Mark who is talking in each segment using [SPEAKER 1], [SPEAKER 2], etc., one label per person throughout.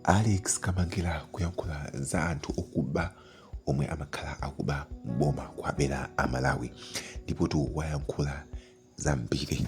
[SPEAKER 1] Alex Kamangila kuyankhula za anthu okuba omwe amakhala akuba m'boma kuwabera Amalawi ndipo tu wayankhula zambiri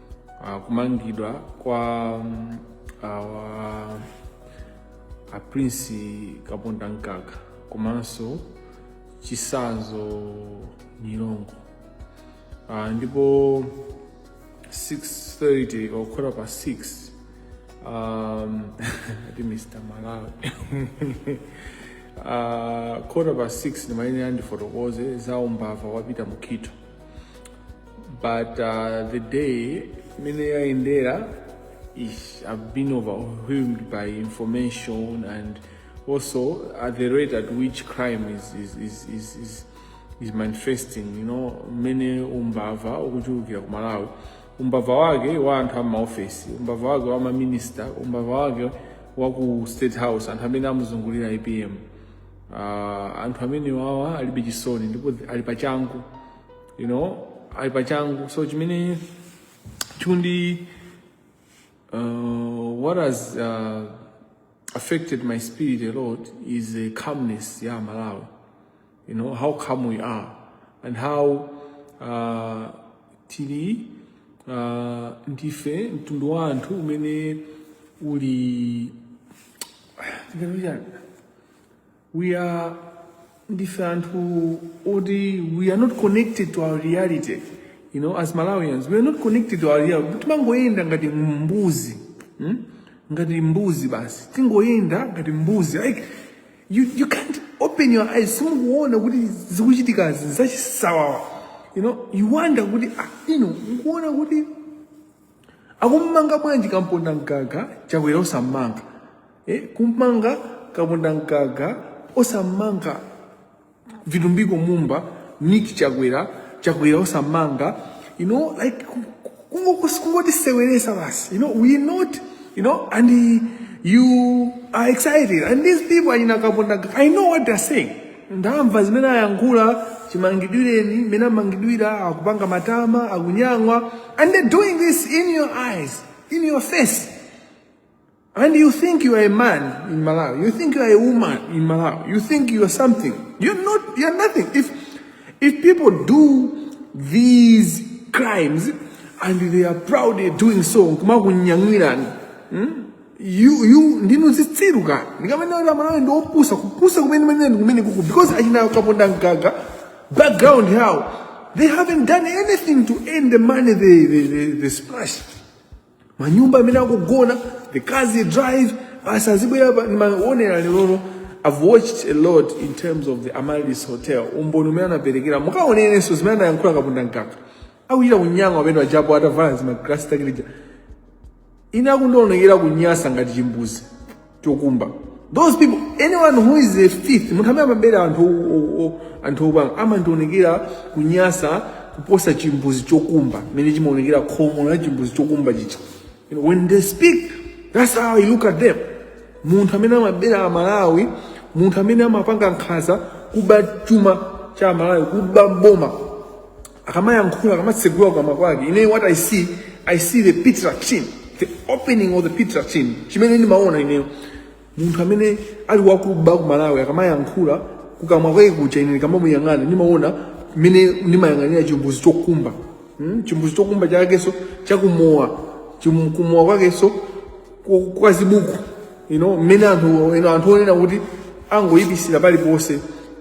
[SPEAKER 2] uh, kumangidwa kwa um, awa a prince kaponda Mgaga komanso Chithyola Nyirongo uh, ndipo 630 or quarter past 6 um, ati mr malawi uh, quarter past 6 ndimayenera ndifotokoze za umbava wapita mukito but uh, the day mmene yayendera ish, i've been overwhelmed by information and also at the rate at which crime is, is, is, is, is, is manifesting you know mmene umbava ukuchulukira ku malawi umbava wake wa anthu a m'maofesi umbava wake wa maminista umbava wake wa ku state house anthu amene amuzungulira apm uh, anthu amene wawa alibe chisoni ndipo ali pachangu you know ali pachangu so chimene chikundi uh, what has uh, affected my spirit a lot is the calmness ya amalawi you know how calm we are and how uh, tili uh, ndife mtundu wa anthu umene uli we are ndife anthu oti we are not connected to our reality you know as malawians we are not connected to our reality timangoyenda ngati mbuzi hmm? ngati mbuzi basi tingoyenda ngati mbuzi like you, you can't open your eyes simukuona kuti zikuchitikazi zachisawawa you know you wonder kuti ah, inu mukuona kuti akumumanga bwanji kaponda mgaga chakwera osammanga eh, kummanga kaponda mgaga osammanga vitumbiko mumba nick chakwera chakwera osammanga you know like ku- ku- kungo- kungotiseweresa basi you know we're not you know and uh, you are excited and these people achina kaponda mgaga i know what they're saying ndamva zimene ayankhula chimangidwireni mmene amangidwira akupanga matama akunyang'wa and they doing this in your eyes in your face and you think you are a man in malawi you think you are a woman in malawi you think you are something you're not you're nothing if if people do these crimes and they are proudly doing so kumakunyang'wirani hmm? you you ndinu zitsiru ka ndikamene kuti amalawi ndi opusa kupusa kumene kumene kumene kuku because achina kaponda mgaga background yawo they haven't done anything to earn the money they they, they, they splash manyumba amene akugona the cars they drive basi azibwera pa- ndimaonera lerono i've watched a lot in terms of the amaryllis hotel umboni umene anaperekera mukaonerenso zimene anayankhula kaponda mgaga akuchita kunyang'wa ameneujapo atavala zimagalasi takilija ine akundionekera kunyasa ngati chimbuzi chokumba those people anyone who is a thief munthu amene amabera anthu o- o- o- anthu opanga amandionekera kunyasa kuposa chimbuzi chokumba mmene chimaonekera khomo la chimbuzi chokumba chija You know, when they speak that's how i look at them munthu amene amabera amalawi munthu amene amapanga nkhaza kuba chuma cha amalawi kuba mboma akamayankhula akamatsegula kukamwa kwake ine what i see i see the pit latrine the opening of the pit latrine chimene ndimaona ineyo munthu amene ali wakuba ku malawi akamayankhula kukamwa kwake kuja ine ndikamamuyang'ana ndimaona mmene ndimayang'anira chimbuzi chokumba hmm? chimbuzi chokumba chakenso chakumowa Chim- kumowa kwakenso ku- kwa zibuku you know mmene anthu you know, anthu onena kuti angoyipisira paliponse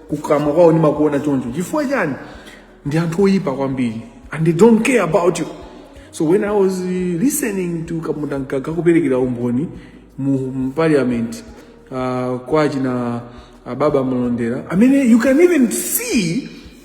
[SPEAKER 2] kukamwa kwawo ndimakuona choncho chifukwa chani ndi anthu oyipa kwambiri and they don't care about you so when i was uh, listening to kapondamgaga kuperekera umboni mu mu parliament uh, kwa achina uh, baba malondera i mean you can even see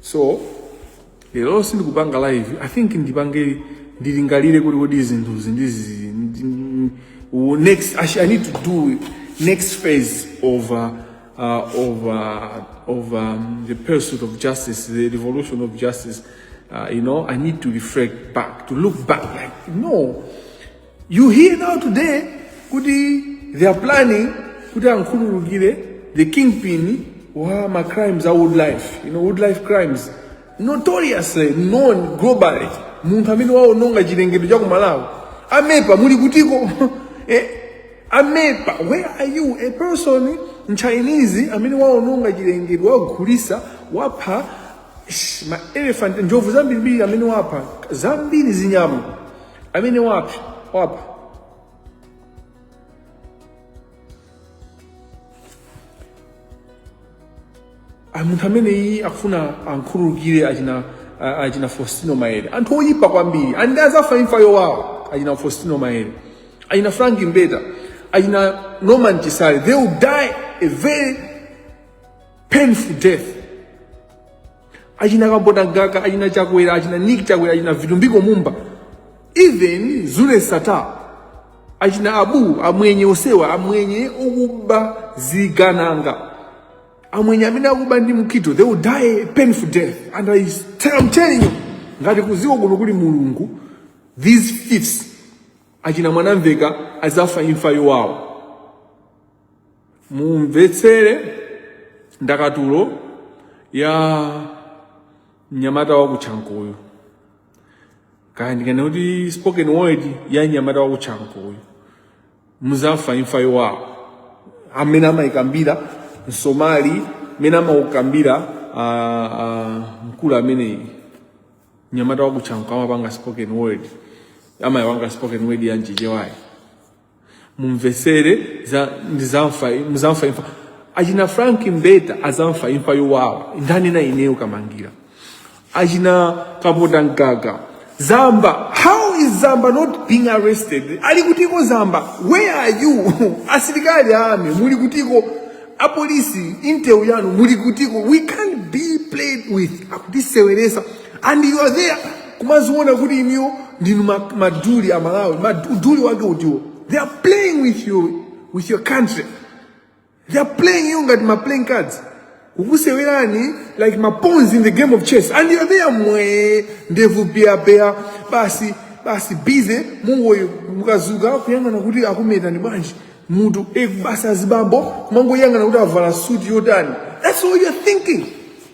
[SPEAKER 2] so lero sindikupanga live i think ndipange ndilingalire kuti kodi zinthuzi ndizi ndi- ndi- u- next I, sh- i need to do next phase of uh, uh, of uh, of um, the pursuit of justice the revolution of justice uh, you know i need to reflect back to look back like no You hear now today kuti they are planning kuti ankhululukire the kingpin wa ma crimes a wildlife you know wildlife crimes notoriously known globally munthu amene waononga chilengedwe cha kumalawi amepa muli kutiko eh, amepa where are you a person mchinese amene waononga chilengedwe wagulisa wapha sh, ma elephant njovu zambirimbiri amene wapha zambiri zinyama amene wapha munthu ameneyi akufuna ankhululukire achina a- achina fostino maele anthu oyipa kwambiri and azafa imfa yowawa achina fostino maele achina frank mbeta achina norman chisale they will die a very painful death achina kapondamgaga achina chakwera achina nick chakwera achina vitumbiko mumba even zuneth sattar achina abu amwenye onsewa amwenye okuba zigandanga amwenye amene akuba ndi mkito they will die a painful death and I, tell- I'm telling you ngati kuziko kuno kuli mulungu these thieves achina mwanamveka azafa imfa yowawa mumvetsere ndakatulo ya mnyamata wa kuchankoyu kaya ndinene kuti spoken word ya mnyamata wa kuchankoyu muzafa imfa yowawa amene amayikambira msomali amene amaukambira ah, ah, mkulu ameneyi mnyamata wa kuchankoyu amapanga spoken word amayipanga spoken word ya mchichewayi mumvesere za ndizamfa muzamva imfa achina Frank Mbeta azafa imfa yowawa ndanena ineyo kamangira achina kapota mgaga zamba how is zamba not being arrested ali kutiko zamba where are you asilikali a army muli kutiko apolisi intel yanu muli kutiko we can't be played with akutiseweresa and you are there kumaziona kuti inuyo ndinu maduli a malawi uduli wake utiwo? they are playing with your, with your country they are playing you ngati ma playing cards kukusewerani like ma pawns in the game of chess and you are there inu ndevu peya peya basi basi busy mungoyo mukazuka kuyang'ana kuti akumetani bwanji mutu basi eh, azibambo kumangoyang'ana kuti avala suti yotani that's all you're thinking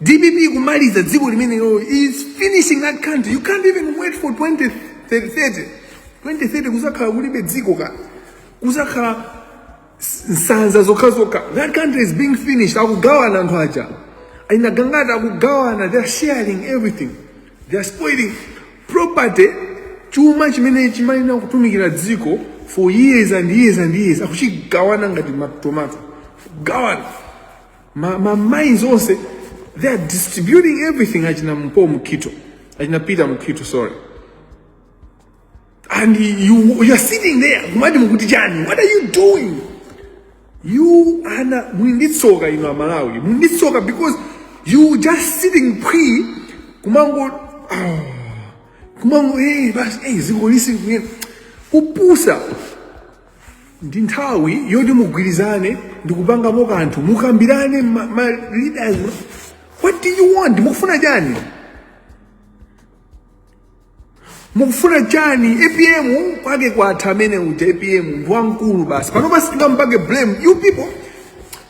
[SPEAKER 2] dpp kumaliza dziko limene lo is finishing that country you can't even wait for 2030 2030 kuzakhala kulibe dziko kale kuzakhala s- nsanza zokhazokha that country is being finished akugawana anthu aja a Gangata akugawana they're sharing everything They are spoiling property, chuma chimene chimayenera kutumikira dziko for years and years and years akuchigawana ngati ma tomato gawana ma, ma mines onse they are distributing everything achina mpo Mukhito achina Peter Mukhito sorry and you you are sitting there kumati mukuti chani what are you doing you ana muli ndi tsoka inu amalawi muli ndi tsoka because you just sitting phwii kumango oh, kumango hey basi hey ziko listen kuye kupusa ndi nthawi yoti mugwirizane ndikupangamo kanthu mukambirane ma, ma leaders what do you want mukufuna chani mukufuna chani apm kwake kwatha amene uja apm ndi wamkulu basi panopa sitingampake blame you people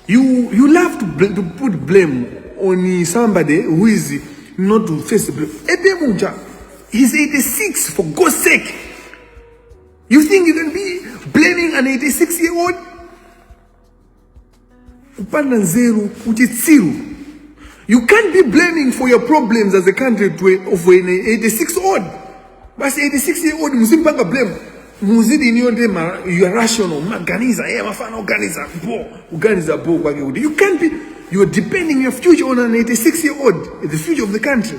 [SPEAKER 2] you you love to, bl to put blame on somebody who is not to face the blame apm uja he's 86 for god's sake you think you can be blaming an 86 year old kupanda nzeru uchitsiru you can't be blaming for your problems as a country twe- of an 86 odd basi 86 year old muzimpanga blame muzidi iniyo ndi ma- you are rational maganiza yeah, mafana organiza bo organiza bo kwake kuti you can't be you're depending your future on an 86 year old the future of the country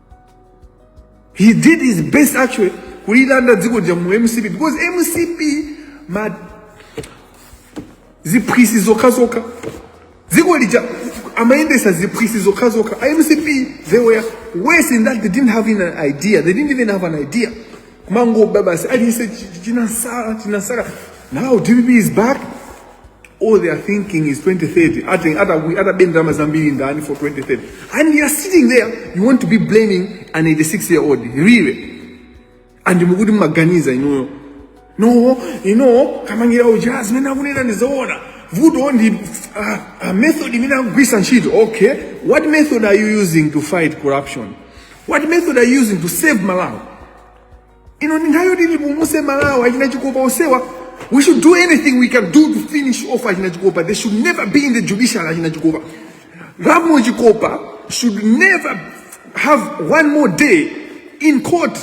[SPEAKER 2] he did his best actually kulilanda dziko lija mu mcp because mcp ndi ziphwisi zokha zokha dziko lija amayendesa ziphwisi zokha zokha a mcp they were worse in that they didn't have even an idea they didn't even have an idea kumangoba basi aliyese chinasala chinasala now dpp is back all they are thinking is 2030 atenga atakuyi atabe ndalama zambiri ndani for 2030 and you are sitting there you want to be blaming an 86 year old really and mukuti mumaganiza inuyo no you know Kamangira uja zimene akunena ndizoona vuto ndi ah, ah, method imene akugwisa ntchito okay what method are you using to fight corruption what method are you using to save malawi ino ndi nthawi yoti tipulumuse malawi achina chikopa osewa we should do anything we can do to finish off achina chikopa they should never be in the judiciary achina chikopa ramo chikopa should never have one more day in court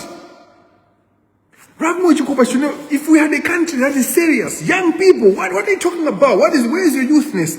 [SPEAKER 2] Ramo Chikopa should know if we had a country that is serious, young people, what, what are you talking about? What is where is your youthness?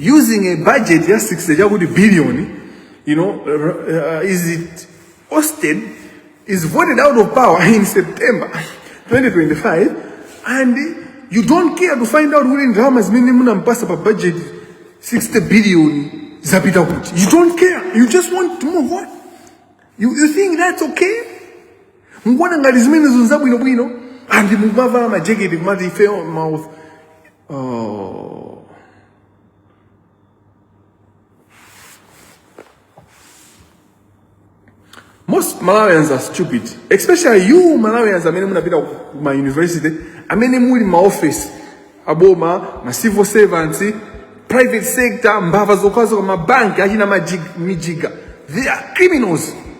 [SPEAKER 2] using a budget ya 60 chakuti billion you know uh, is it ousted is voted out of power in September 2025 and you don't care to find out kuti ndalama zimene munampasa pa budget 60 billion zapita kuti you don't care you just want to move on you, you think that's okay mukuona ngati zimenezo nzabwinobwino and mumavala majeketi kumati ifeyo mouth Oh. Most Malawians are stupid, especially you Malawians amene munapita ku ma university, amene muli ma office aboma, ma civil servants, private sector, mbava zokhazokha mabanki achina Mijiga, Mijiga. They are criminals.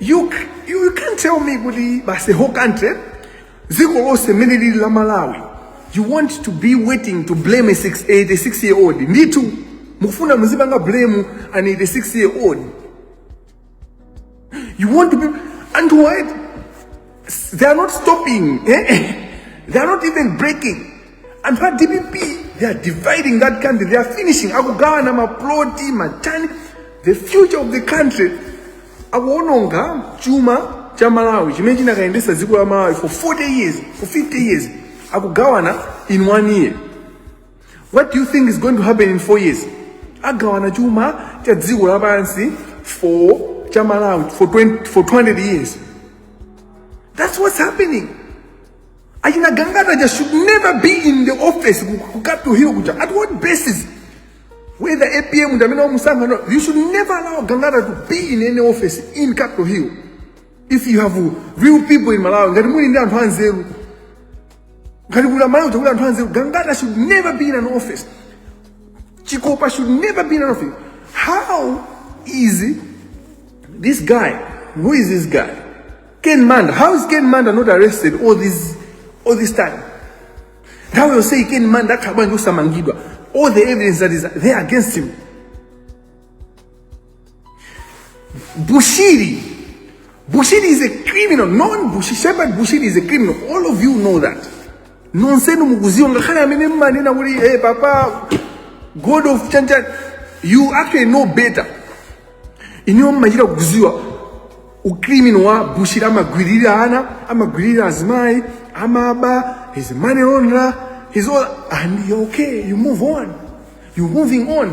[SPEAKER 2] you, you can't tell me kuti basi whole country dziko lonse mmene lili la malawi you want to be waiting to blame a 86 year old ndithu mukufuna muzipanga blame an 86 year old you want to be anthu wa they are not stopping eh? they are not even breaking anthu a dpp they are dividing that country they are finishing akugawana maploti matani the future of the country akuononga chuma cha malawi chimene chinakayendesa dziko la malawi for 40 years for 50 years akugawana in one year What do you think is going to happen in four years? Agawana chuma cha dziko lapansi for cha Malawi for 20, for 200 years. That's what's happening. Achina Gangata just should never be in the office ku- ku Capital Hill kuja. At what basis? Whether APM ndamene wamusankha no, you should never allow Gangata to be in any office in Capital Hill. If you have real people in Malawi, ngati muli ndi anthu anzeru, ngati kuti amalawi takuti anthu anzeru gangata should never be in an office chikopa should never be in an office how is this guy who is this guy ken msonda how is ken msonda not arrested all this time nthawi yonseyi ken msonda akhala bwanji osamangidwa all the evidence that is there against him Bushiri. Bushiri is a criminal. Non Bushiri. Shepherd Bushiri is a criminal. All of you know that. Nonsenu mukuziwa ngakhale amene mmanena kuti hey papa God of Chanchan you actually know better. Iniwo mmachita kuziwa ukrimino wa Bushiri amagwiririra ana, amagwiririra azimayi, amaba, he's a money launderer, he's all and you're okay, you move on. You're moving on.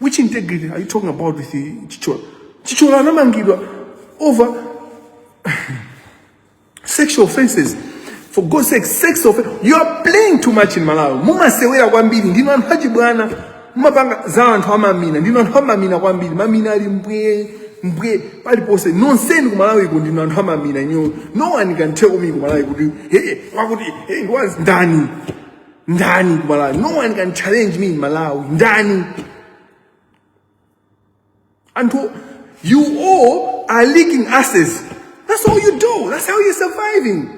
[SPEAKER 2] Which integrity are you talking about with Chithyola? Chithyola anamangidwa over sexual offenses. For God's sake, sex offense. You are playing too much in Malawi. Mumasewera kwambiri ndinu anthu achibwana. Mumapanga za anthu amamina. Ndinu anthu amamina kwambiri. Mamina ali mbwe mbwe paliponse nonsenu ku Malawiko ndinu anthu amamina inu. No one can tell me ku Malawi kuti hey wakuti hey ndani. ndani ku malawi no one can challenge me in malawi ndani anthu you all are leaking asses that's all you do that's how you're surviving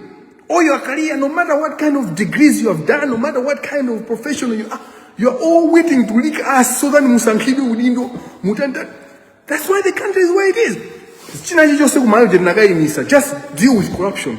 [SPEAKER 2] all your career no matter what kind of degrees you have done no matter what kind of professional you are you're all waiting to leak us so that musankhidwe udindo mutanda that's why the country is where it is china chilichonse kumalawi tinakayimisa just deal with corruption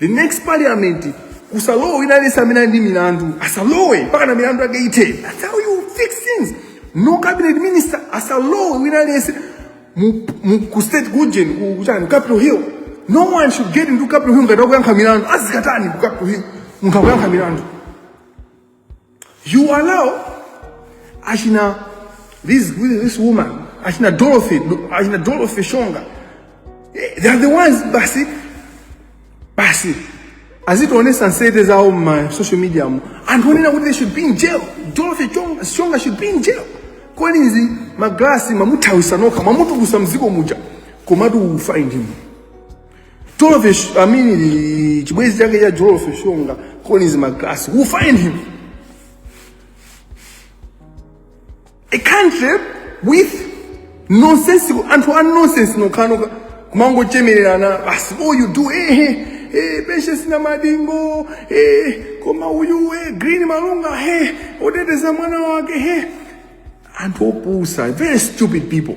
[SPEAKER 2] the next parliament kusalowe wina aliyense amene ali ndi milandu asalowe mpaka na milandu yake ithe that's how you fix things no cabinet minister asalowe wina aliyense mu- mu- ku state kujen ku- kuchani ku capital hill no one should get into capital hill ngati akuyankha milandu azikatani ku capital hill munthu akuyankha milandu You allow achina this, this woman achina Dorothy achina Dorothy Shonga eh, they are the ones basi basi azituonesa nsete zawo mma social media mu anthu onena kuti they should be in jail Dorothy Chonga Shonga should be in jail Collins magrasi mamuthawisa nokha mamutukusa mziko muja komatu you find him Jolofish, I mean, the chibwezi chake cha Jolofish Shonga, Collins McGrath, who find him? A country with nonsensical, and for nonsense, no kanoka, kumango chemererana, basi, oh, you do, eh, eh, eh, Patience na madingo, eh, koma uyu, eh, Green Malunga, eh, oteteza mwana wake, eh. Anthu opusa, very stupid people.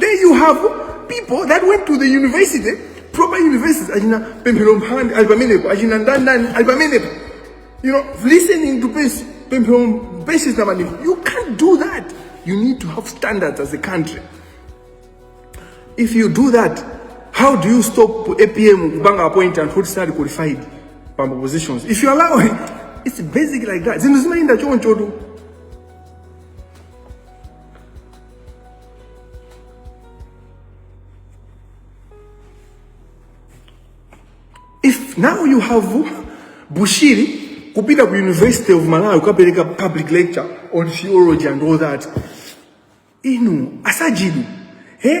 [SPEAKER 2] then you have people that went to the university proper universities achina pemphero mphande ali pamenepo achina ndandani ali pamenepo you know listening to patience namadingo you can't do that you need to have standards as a country if you do that how do you stop apm kupanga appoint anthu oti sali qualified pa positions if you allow it, it's basic like that zinthu zimayenda choncho tu if now you have bushiri kupita ku university of malawi kukapereka public lecture on theology and all that inu asajidi eh?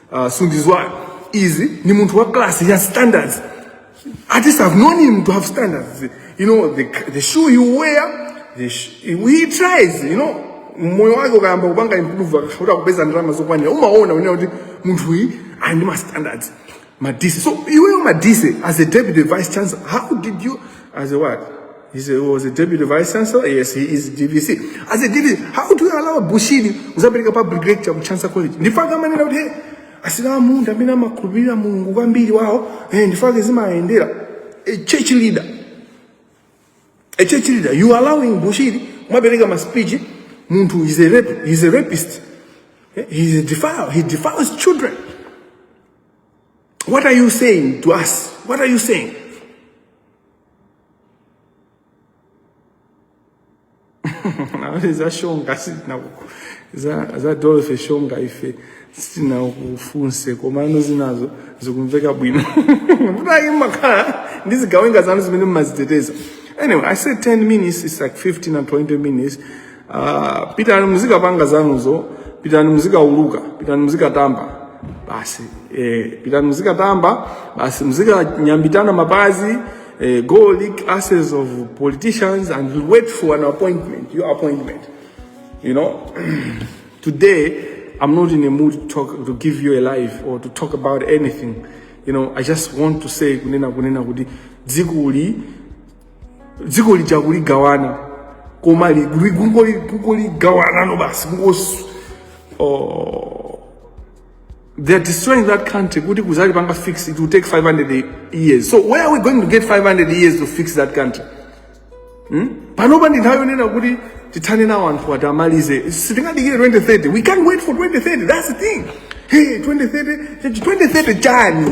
[SPEAKER 2] uh, sunduzwayo izi ni munthu wa class he has standards at least i've known him to have standards you know the, the shoe you wear the sh he tries you know moyo wake ukayamba kupanga improve akuyamba kupeza ndalama zokwanira umaona unena kuti munthu uyu ali ndi ma standards madise so iweyo madise as a deputy vice chancellor how did you as a what He's a, was a deputy vice chancellor. Yes, he is DVC. As a DVC, how do you allow Bushiri kuzapeleka public lecture ku Chancellor College? Ndifaka manena kuti hey, asina munda amene amakhulupirira Mulungu kwambiri wawo eh, ndifake zimayendera a church leader a church leader you are allowing Bushiri kumapereka ma speech munthu is a rep, he's a rapist eh, he is a defile he defiles children what are you saying to us what are you saying Nawe za shonga sitina ku- za za dorothy shonga ife sitinakufunse komano zinazo zikumveka bwino kuti mumakhala ndi zigawenga zanu zimene mmaziteteza anyway i said 10 minutes it's like 15 and 20 minutes Ah, pitani muzikapanga zanuzo pitani muzikauluka pitani muzikatamba basi eh, pitani muzikatamba basi muzikanyambitana mapazi eh, go leak asses of politicians and wait for an appointment your appointment you know today i'm not in a mood to talk to give you a life or to talk about anything you know i just want to say kunena kunena kuti dzikuli dziko lija kuligawana koma li- li- kungoli- kungoligawanano basi kungos oh, they are destroying that country kuti kuzalipanga fix it will take 500 years so where are we going to get 500 years to fix that country panopa ndi nthawi yonena kuti tithane nawo anthu oti amalize sitingadikire 2030 we can't wait for 2030 that's the thing hey 2030 2030 chani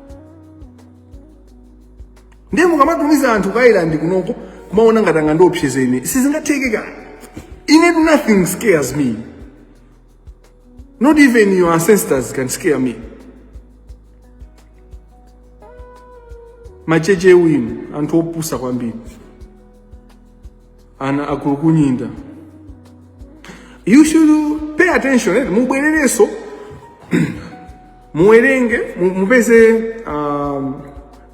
[SPEAKER 2] ndiye mukamatumiza anthu ku ireland kunoko kumaona ngati angandiopseze ine sizingatheke ka ine nothing scares me not even your ancestors can scare me machende anu anthu opusa kwambiri ana akulukunyinda you should pay attention eh? mubwerereso muwerenge mu- mupeze um,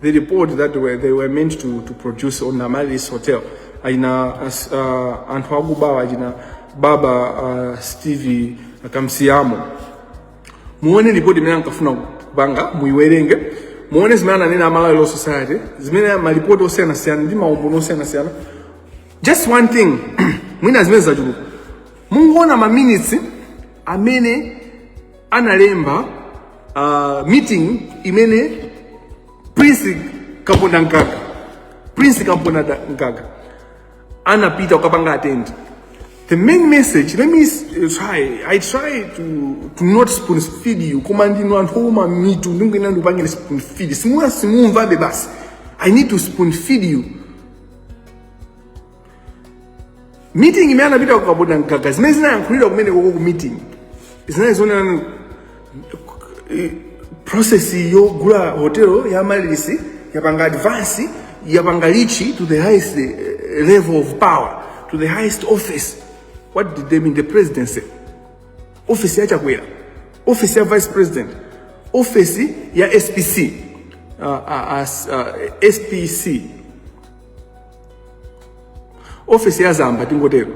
[SPEAKER 2] the report that were, they were meant to, to produce on amaris hotel achina as- uh, anthu akubawa achina baba uh, steve kamsiyamo muone ripoti imene ankafuna kupanga muiwerenge muone zimene ananena a malawi law society zimene malipoti osiyanasiyana ndi maumboni osiyanasiyana just one thing mwina zimene zachuluka mungoona maminitsi amene analemba uh, meeting imene prince kaponda mkaka prince kaponda mkaka anapita kukapanga attend the main message let me s- uh, try i try to, to not spoon feed you koma ndinu anthu ouma mitu ndikuyenera ndikupangire spoon feed simuna simumvabe basi i need to spoon feed you meeting imene anapitako kapondamgaga zimene zinayankhulidwa kumenekoko ku meeting zinali zonena process yogula hotelo ya malisi yapanga advance yapanga lichi to the highest eh, level of power to the highest office what did they mean the presidency office ya chakwera office ya vice president office ya spc uh, uh, as, uh, spc office ya zamba tingotero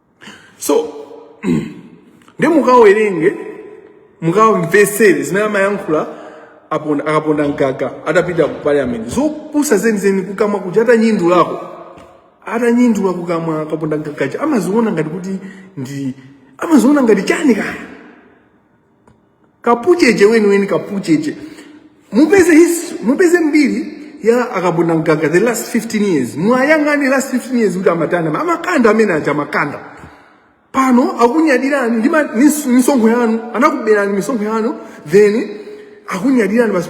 [SPEAKER 2] so nde mukawerenge mukawamvesere zimene amayankhula aponda- akapondamgaga atapita ku parliament zopusa zenizeni kukamwa kuja atanyindulako atanyindula kukamwa akapondamgaga aja amaziona ngati kuti ndi amaziona ngati chani kaya kapucheche weniweni kapucheche mupeze his mupeze mbiri ya akapondamgaga the last 15 years mwayang'ane last 15 years kuti amatanda amakanda amene aja amakanda pano akunyadirani ndi ma- nis- misonkho yanu anakuberani misonkho yanu then akunyadirani basi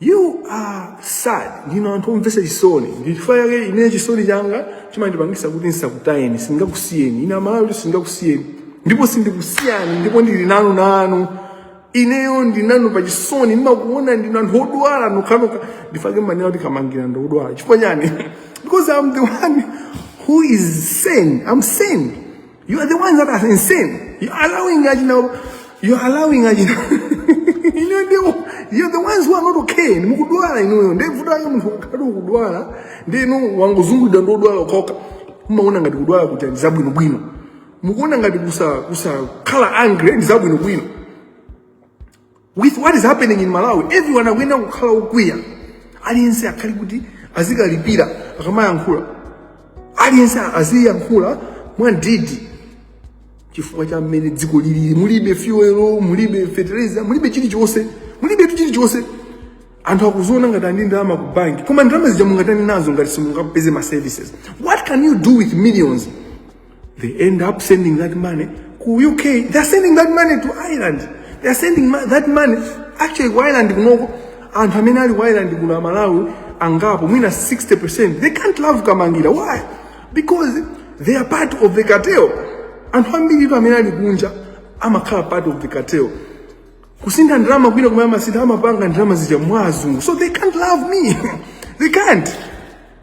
[SPEAKER 2] You are sad. Ndinu anthu omvesa chisoni. Ndichifukwa chake ine chisoni changa chimandipangisa kuti nsakutayeni, singakusiyeni. Ine amalawi singakusiyeni. Ndipo sindikusiyani, ndipo ndili nanu nanu. Ineyo ndinanu pa chisoni, ndimakuona ndinu anthu odwala nokhanokha. Ndichifukwa chake mmanena kuti Kamangila ndi odwala. Chifukwa chani? Because I'm the one who is sane. I'm sane. You are the ones that are insane. You are allowing Ajina. You are allowing Ajina. Ine ndio you are the ones who are not okay. Ni mukudwala inuyo. Ndiye vuto la munthu ukati ukudwala. Ndiye inu wangozungulidwa ndi odwala okhaokha. Mmaona ngati kudwala kuti ndi zabwino bwino. Mukuona ngati kusa- kusakhala angry ndi zabwino bwino. with what is happening in malawi everyone akuyenera kukhala okwiya aliyense akhale kuti azikalipira akamayankhula aliyense aziyankhula mwandidi chifukwa cha mmene dziko lilili mulibe fuel mulibe fertilizer mulibe chilichonse mulibetu chilichonse anthu akuziona ngati ali ndi ndalama ku banki koma ndalama zija mungatani nazo ngati simungapeze ma services what can you do with millions They end up sending that money ku UK. They are sending that money to Ireland. They are sending ma- that money actually ku Ireland kunoko anthu amene ali ku Ireland kuno aMalawi angapo mwina 60%. They can't love Kamangila. Why? Because they are part of the cartel. Anthu ambiritu amene ali kunja amakhala part of the cartel. kusintha ndalama kwina kumene amasintha amapanga ndalama zija mwa azungu so they can't love me they can't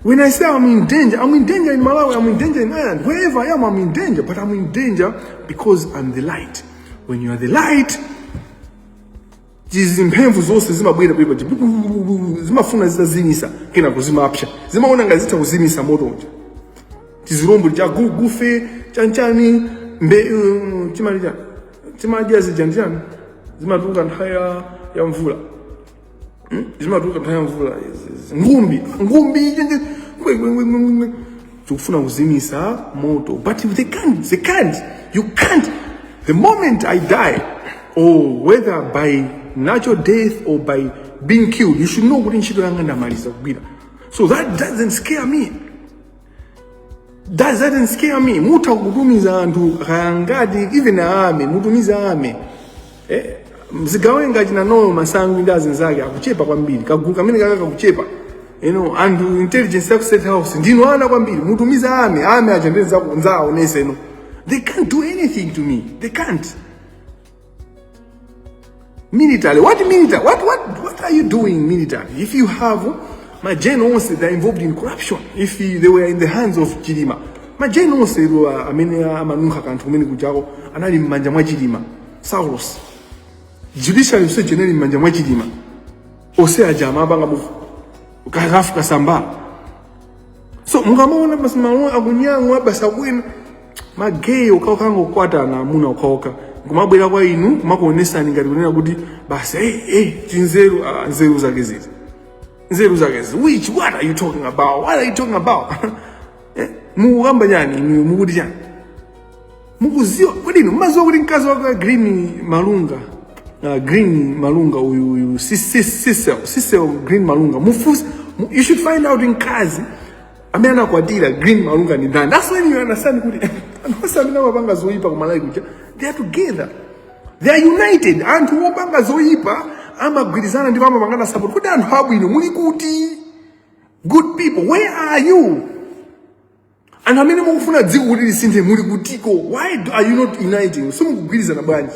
[SPEAKER 2] When I say I'm in danger, I'm in danger in Malawi, I'm in danger in Ireland, wherever I am, I'm in danger, but I'm in danger because I'm the light. When you are the light, zimphemvu zonse zimabwera pali paja zimafuna zitazimisa kenako zimapsa zimaona ngati zitha kuzimisa moto uja tizirombo cha gulugufe chanchani mbe um, timati chani timadya zija ndi chani zimatuluka nthawi ya- ya mvula Hmm? zimatuluka nthawi ya mvula izi- ngumbi ngumbi izi ndi- kwe- kwe- kwe- kwe- kwe. tikufuna kuzimisa moto but they can't they can't you can't the moment i die or whether by natural death or by being killed you should know kuti ntchito yanga ndamaliza kugwira so that doesn't scare me that doesn't scare me mutha kutumiza anthu kaya ngati even army mutumiza army eh, zigawenga achina Noel Masangwi ndi azinzake akuchepa kwambiri kagulu kamene kaka kakuchepa you know, anthu intelligence yaku state house ndinu ana kwambiri mutumiza army army aja ndizakonza onse no they can't do anything to me they can't Military, what military? What, what, what are you doing military? If you have magenerals that are involved in corruption, if they were in the hands of Chilima, magenerals uh, amene amanunkha kanthu kumene kujako anali m'manja mwa Chilima, Saulos. Judiciary yonse ija inali m'manja mwa Chilima. Ose aja amapanga mu kakafu kasamba. so mukamaona basi malo akunyang'wa basi akuyenda mageyi okhaokha angokwatana amuna okhaokha kumabwera kwa inu kumakuonesani ngati kunena kuti basi hey, hey, tinzeru ah, nzeru zake ziti nzeru zake zi which what are you talking about what are you talking about Eh, mukukamba chani inu mukuti chani mukuziwa kodi inu mumaziwa kuti mkazi wake green malunga uh, green malunga uyu uyu sisel sisel green malunga mufunse mu, you should find out mkazi amene anakwatira green malunga ni ndani that's when you understand kuti anthu onse amene amapanga zoyipa kumalawi kuja they are together they are united anthu opanga zoyipa amagwirizana ndipo amapangana support kodi anthu abwino muli kuti good people where are you anthu amene mukufuna dziko kuti lisinthe muli kutiko why are you not uniting simukugwirizana bwanji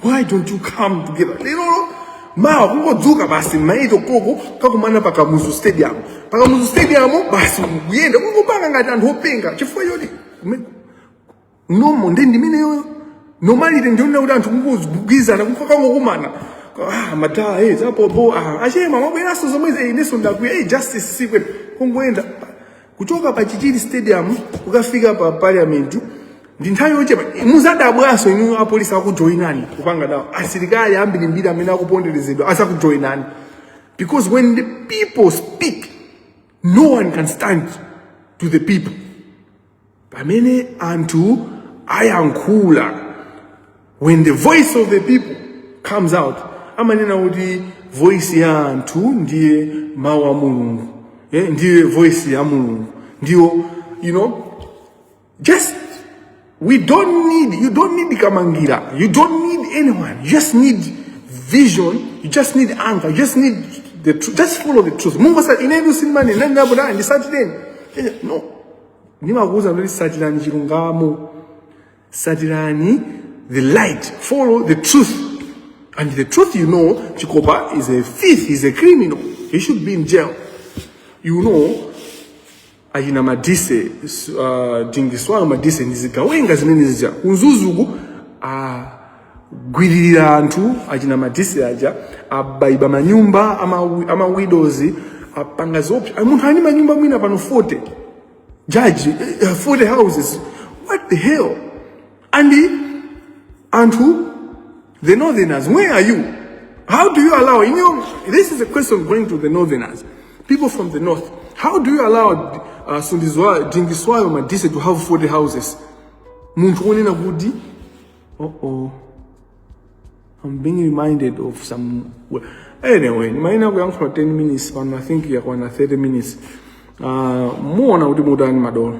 [SPEAKER 2] why don't you come together lerolo mawa kungodzuka basi m'ma eight o'clock kakumana pa kamuzu stadium pa kamuzu stadium basi kuyenda kungopanga ngati anthu openga chifukwa choti kume- nomo ndi ndimeneyoyo nomalite ndionena kuti anthu kungogwirizana kungokakumana ah madala eh zapopo ah achema mabweraso zomwe eh ineso ndakwiya eh justice sikwe kungoenda kuchoka pa chichiri stadium kukafika pa parliament ndi nthawi yochepa muzadabwaso inu apolisi akujoinani kupanga dawo asilikali ambiri mbiri amene akuponderezedwa azakujoinani because when the people speak no one can stand to the people pamene anthu ayankhula when the voice of the people comes out amanena kuti voice ya anthu ndiye mawu a mulungu eh, ndiye voice ya mulungu ndiyo you know just we don't need you don't need kamangira you don't need anyone you just need vision you just need anger you just need the truth just follow the truth mungu sa inetu sinimani nanabudani ndisatireni no ndimakuwuza kuti satirani chilungamo satirani the light follow the truth and the truth you know chikopa is a thief is a criminal he should be in jail you know achina madise uh, dingiswayo madise ndizigawenga zimene zija ku Mzuzu ku ah, gwililira anthu achina Madise aja abaiba manyumba ama, ama widows apanga zoopsa Ah, munthu ali ndi manyumba mwina pano 40 judge eh, eh, 40 houses what the hell and anthu the northerners where are you how do you allow in your this is a question going to the northerners people from the north how do you allow uh, Dingiswayo Madise to have 40 houses munthu onena kuti Uh-oh. I'm being reminded of some... Anyway, maina kuyankhula 10 minutes pano, I think yakwana 30 minutes. Uh, muona kuti mutani madolo.